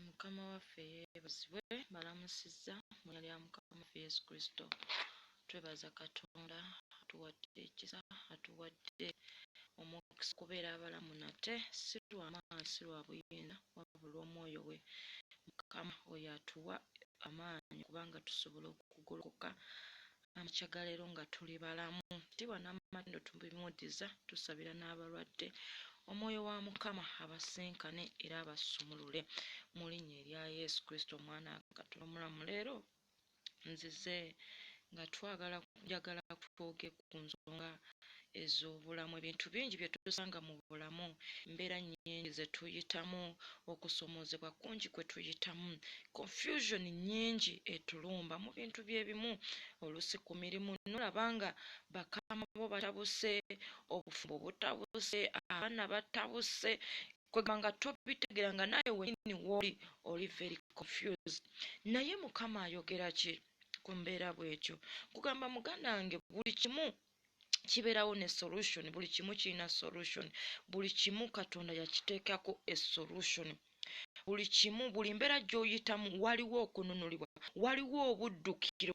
Mukama waffe yeebazibwe balamusizza mu lya Mukama waffe Yesu Kristo. Twebaza Katonda atuwadde ekisa atuwadde omukisa okubeera abalamu nate si lwa maanyi si lwa buyinza wabula omwoyo we Mukama oyo atuwa amaanyi kubanga tusobola okugolokoka amakya ga leero nga tuli balamu tibwa n'amatindo tubimudiza tusabira n'abalwadde omwoyo wa mukama abasinkane era abasumulule mu linnya erya yesu kristo omwana katonda omulamu leero nzize nga twagala njagala kutwoge ku nsonga ez'obulamu. Ebintu bingi bye tusanga mu bulamu, embeera nnyingi ze tuyitamu, okusomoozebwa kungi kwe tuyitamu, confusion nnyingi etulumba mu bintu bye bimu, oluusi ku mirimu n'olaba nga bakama bo batabuse, obufumbo butabuse, abaana batabuse, kwegamba nga tobitegeera nga naawe wennyini w'oli oli very confused. Naye Mukama ayogera ki ku mbeera bw'etyo? Nkugamba muganda wange buli kimu kibeerawo ne solution buli kimu kirina solution buli kimu katonda yakiteekako esolution buli kimu buli mbeera gy'oyitamu waliwo okununulibwa waliwo obuddukiro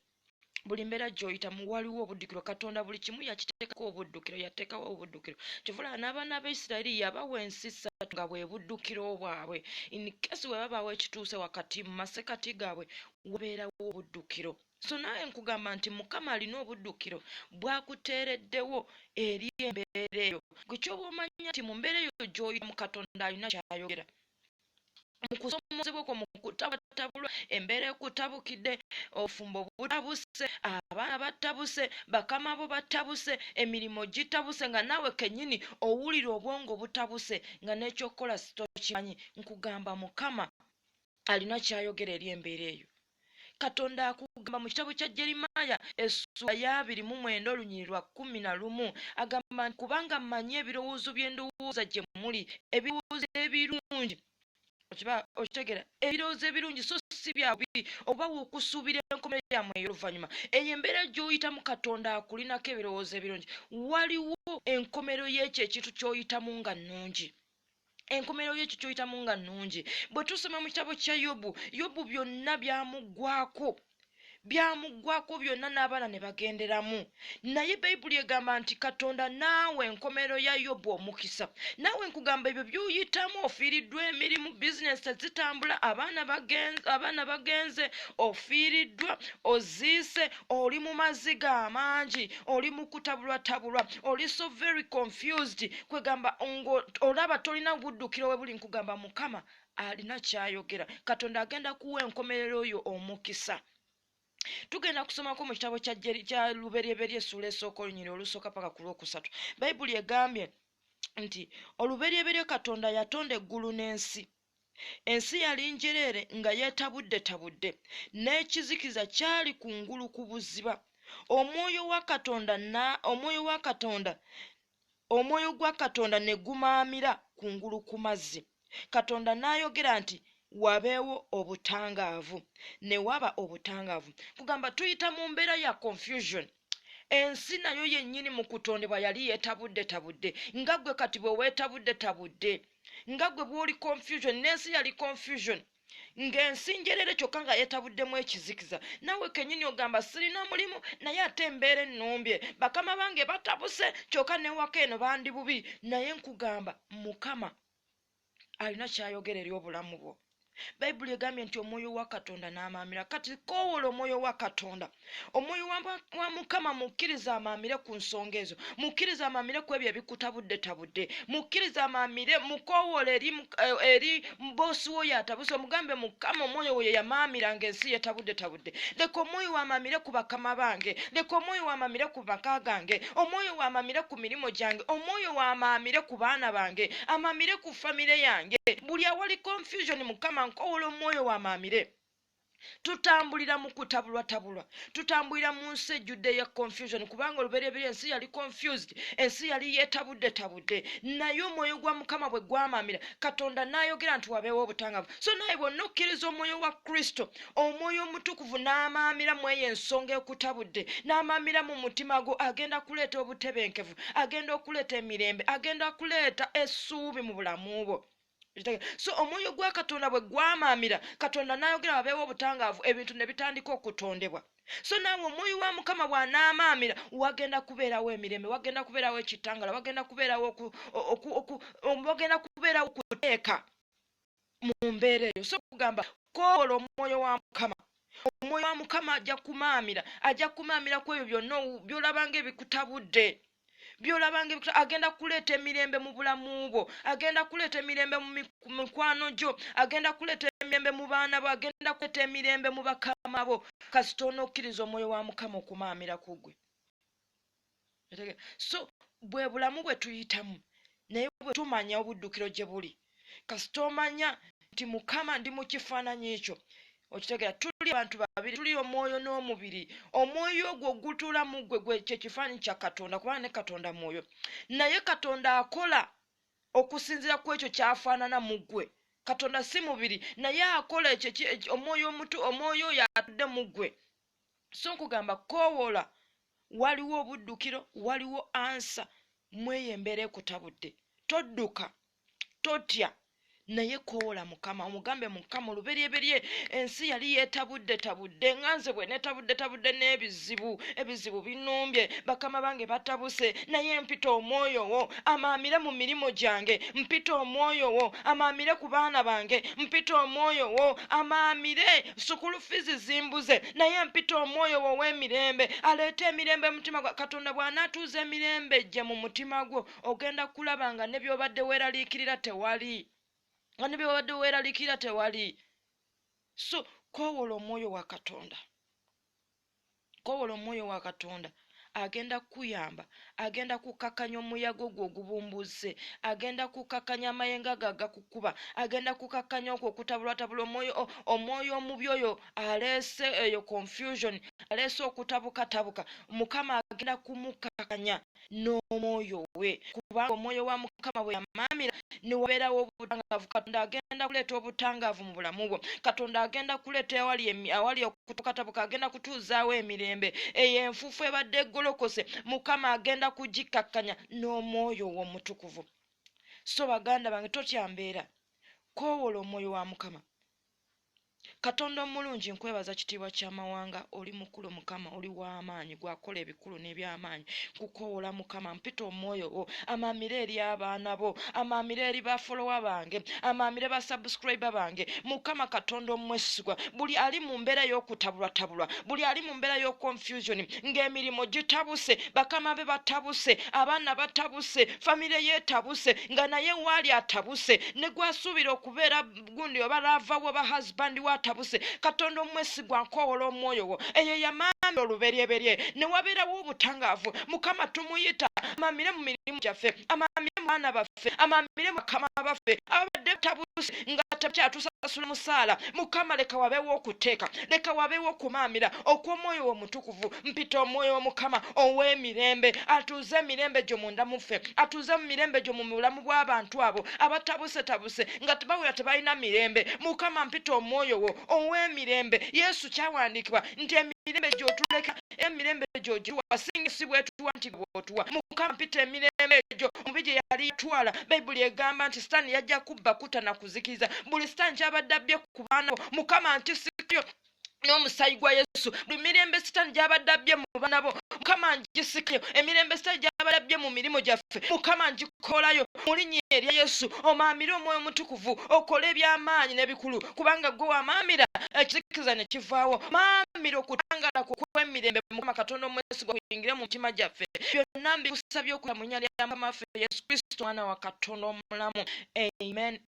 buli mbeera gy'oyitamu waliwo obuddukiro katonda buli kimu yakiteekako obuddukiro yateekawo obuddukiro kyovulaba n'abaana ba isirairi yabawa ensi ssatu nga bwe buddukiro bwabwe inkesi bwe babaawo ekituuse wakati mu masekati gaabwe wabeerawo obuddukiro So naawe nkugamba nti Mukama alina obuddukiro bwakuteereddewo eri embeera eyo. Gwe kyoba omanya nti mu mbeera eyo gy'oyitamu Katonda alina ky'ayogera. Mu kusoomozebwa okwo, mu kutabwatabulwa, embeera ekutabukidde, obufumbo butabuse, abaana batabuse, bakama bo batabuse, emirimu gitabuse nga naawe kennyini owulira obwongo butabuse nga n'ekyokukola tokimanyi, nkugamba Mukama alina ky'ayogera eri embeera eyo. Katonda akugamba mu kitabo kya Jeremiah essuula y'abiri mu mwenda olunyiri lwa kkumi na lumu agamba nti kubanga mmanyi ebirowoozo bye ndowooza gye muli ebirowoozo ebirungi okiba okitegera ebirowoozo ebirungi so si bya bubi okubawa okusuubira enkomerero yammwe ey'oluvannyuma eyo embeera gy'oyitamu katonda akulinako ebirowoozo ebirungi waliwo enkomerero y'ekyo ekintu ky'oyitamu nga nnungi enkomerero yekyo kyoyitamu nga nnungi bwe tusoma mu kitabo kya yobu yobu byonna byamuggwako byamuggwako byonna n'abaana ne bagenderamu naye bayibuli egamba nti katonda naawe enkomerero ya yobu omukisa naawe nkugamba ebyo byoyitamu ofiiriddwa emirimu bizinesi tezitambula abaana bagenze ofiiriddwa oziise oli mu maziga amangi oli mu kutabulwatabulwa oli so very confused kwegamba olaba tolina buddukiro we buli nkugamba mukama alina kyayogera katonda agenda kuwa enkomerero oyo omukisa tugenda kusomako mu kitabo kya luberyeberye esuula esooka olunyiri olusooka paka ku lwokusatu bayibuli egambye nti oluberyeberye katonda yatonda eggulu n'ensi Ensi yali njereere nga yeetabuddetabudde, n'ekizikiza kyali kungulu ku buziba. Omwoyo wa Katonda na, omwoyo wa Katonda, omwoyo gwa Katonda ne gumaamira kungulu ku mazzi. Katonda n'ayogera nti, Wabeewo obutangaavu. Ne waba obutangaavu. Nkugamba, tuyita mu mbeera ya confusion. ensi nayo yennyini mu kutondebwa yali yeetabuddetabudde nga gwe kati bwe weetabuddetabudde nga gwe bw'oli confusion n'ensi yali confusion ng'ensi njerere kyokka nga yeetabuddemu ekizikiza nawe kennyini ogamba sirina mulimu naye ate embeera ennumbye bakama bange batabuse kyokka newaka eno bandi bubi naye nkugamba mukama alina ky'ayogera eri obulamu bwo. Bayibuli egambye nti omwoyo wa Katonda n'amaamira. Kati koowoola omwoyo wa Katonda. Omwoyo wa Mukama mukkiriza amaamire ku nsonga ezo. Mukkiriza amaamire ku ebyo ebikutabuddetabudde. Mukkiriza amaamire mukoowoola eri, eh, eri boosi wo y'atabuse omugambe Mukama omwoyo wo ye yamaamira ng'ensi yetabuddetabudde. Leka omwoyo wo amaamire ku bakama bange. Leka omwoyo wo amaamire ku maka gange. Omwoyo wo amaamire ku. ku mirimu gyange omwoyo wamaamire ku baana bange amaamire ku famire yange buli awali confusion mukama nkowola omwoyo wamaamire tutambulira mu kutabulwatabulwa tutambulira mu nsi ejjudde ya confusion kubanga olubereberye ensi yali confused ensi yali yetabudde tabudde naye omwoyo gwa mukama bwe gwamamira katonda n'ayogera nti wabeewo obutangavu so naye bwonna okkiriza omwoyo wa kristo omwoyo omutukuvu n'amaamira mu eyo ensonga ekutabudde n'amaamira mu mutima gwo agenda kuleeta obutebenkevu agenda okuleeta emirembe agenda kuleeta essuubi mu bulamu bwo so omwoyo gwa katonda bwe gwamaamira katonda n'ayogera wabeewo obutangaavu ebintu ne bitandika okutondebwa so naawe omwoyo wa mukama bw'anaamaamira wagenda kubeerawo emirembe wagenda kubeerawo ekitangala wagenda kubeerawo wagenda kubeerawo okuteeka mu mbeera eyo so kugamba kowola omwoyo wa mukama omwoyo wa mukama ajja kumaamira ajja kumaamira ku ebyo byonna byolaba nga ebikutabudde byolaba nga agenda kuleeta emirembe mu bulamu bwo agenda kuleeta emirembe mu mikwano gyo agenda kuleeta emirembe mu baana bo agenda kuleeta emirembe mu bakama bo kasita onokkiriza omwoyo wa mukama okumaamira ku gwe so bwe bulamu bwe tuyitamu naye bwe tumanya obuddukiro gye buli kasita omanya nti mukama ndi mu kifaananyi ekyo okitegera tuli abantu babiri tuli omwoyo n'omubiri omwoyo ogwo ogutuula mu ggwe gwe kye kifaananyi kya katonda kubanga ne katonda mwoyo naye katonda akola okusinziira ku ekyo kyafaanana mu ggwe katonda si mubiri naye akola ekyo omwoyo omutu omwoyo oyo atudde mu ggwe so nkugamba kowoola waliwo obuddukiro waliwo ansa mweyo embeera ekutabudde todduka totya naye kowoola mukama omugambe mukama oluberyeberye ensi yali yetabudde tabudde nga nze bwe netabudde tabudde n'ebizibu ebizibu binumbye bakama bange batabuse naye mpita omwoyo wo amaamire mu mirimu gyange mpita omwoyo wo amaamire ku baana bange mpita omwoyo wo amaamire sukulu fizi zimbuze naye mpita omwoyo wo ow'emirembe aleeta emirembe mutima gwa katonda bw'anaatuuza emirembe gye mu mutima gwo ogenda kulaba nga ne by'obadde weeraliikirira tewali nga ne by'obadde weeraliikirira tewali so kowoola omwoyo wa katonda Kowola Omwoyo wa Katonda. Agenda kukuyamba. Agenda kukkakkanya omuyaga ogwo ogubumbuuzze. Agenda kukkakkanya amayengo ago agakukuba. Agenda kukkakkanya okwo okutabulwatabula omwoyo, o, omwoyo omubi oyo aleese eyo confusion, aleese okutabukatabuka. Mukama agenda kumukkakkanya. n'omwoyo we kubanga omwoyo wa mukama bwe yamaamira ne wabeerawo obutangaavu katonda agenda kuleeta obutangaavu mu bulamu bwo katonda agenda kuleeta awali awali okutukatabuka agenda kutuuzaawo emirembe eyo enfuufu ebadde eggolokose mukama agenda kugikkakkanya n'omwoyo w'omutukuvu so baganda bange totya mbeera koowola omwoyo wa mukama Katonda omulungi nkwebaza kitiibwa kya mawanga oli mukulu mukama oli wamaanyi gwakola ebikulu nebyamaanyi nkukowoola mukama mpita omwoyo wo amaamire eri abaana bo amaamire eri ba folowa bange amaamire ba subscriber bange mukama katonda omwesigwa buli ali mu mbeera ey'okutabulwatabulwa buli ali mu mbeera y'oconfusion ng'emirimu gitabuse bakama be batabuse abaana batabuse famire yetabuse nga naye waali atabuse ne gwasuubira okubeera gundi oba lava wo ba husband wo atabuse katonda omwesigwa nkowola omwoyo wo eyo yamaami oluberyeberye newabeerawo obutangaavu mukama tumuyita amamire mu mirimu gyaffe amamire mu baana baffe amamire mukama baffe ababadde batabuse nga takyatusasula musaala mukama leka wabeewo okuteeka leka wabeewo okumaamira okw'omwoyo wo mutukuvu mpita omwoyo womukama ow'emirembe atuuze emirembe gyo munda muffe atuuze mu mirembe gyo mu bulamu bw'abantu abo abatabusetabuse nga tebawera tebalina mirembe mukama mpita omwoyo wo ow'emirembe yesu kyawandiikibwa nti emirembe gyotuleka emirembe gyogiwa singa si bwetuwa nti bwotuwa mukama mpita emirembe egyo omubi gye yali yatwala bayibuli egamba nti sitaani yajja kubba kuta na kuzikiriza buli sitaani kyabadde abbye ku baana mukama ntisikayo n'omusaayi gwa yesu buli mirembe sitaani gy'abadde abbye mu baana bo mukama ngisikayo emirembe sitaani gy'abadde abbye mu mirimu gyaffe mukama ngikolayo mu linnya erya yesu omaamire omwoyo omutukuvu okole eby'amaanyi n'ebikulu kubanga gwe wamaamira ekizikiriza ne kivaawo maamira okutangala ku kw'emirembe mukama katonda omwesigwa kuyingire mu mitima gyaffe byonna mbikusabye okuya mu nnya lya mukama waffe yesu kristo mwana wa katonda omulamu amen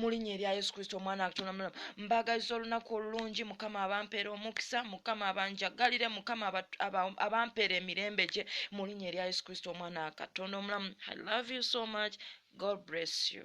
mulinya erya yesu kristo omwana wakitonda mulamu mbagaliza olunaku olulungi mukama abampeera omukisa mukama abanjagalire mukama abampeera emirembe gye mulinya erya yesu kristo omwana wakatonda omulamu i love you so much god bless you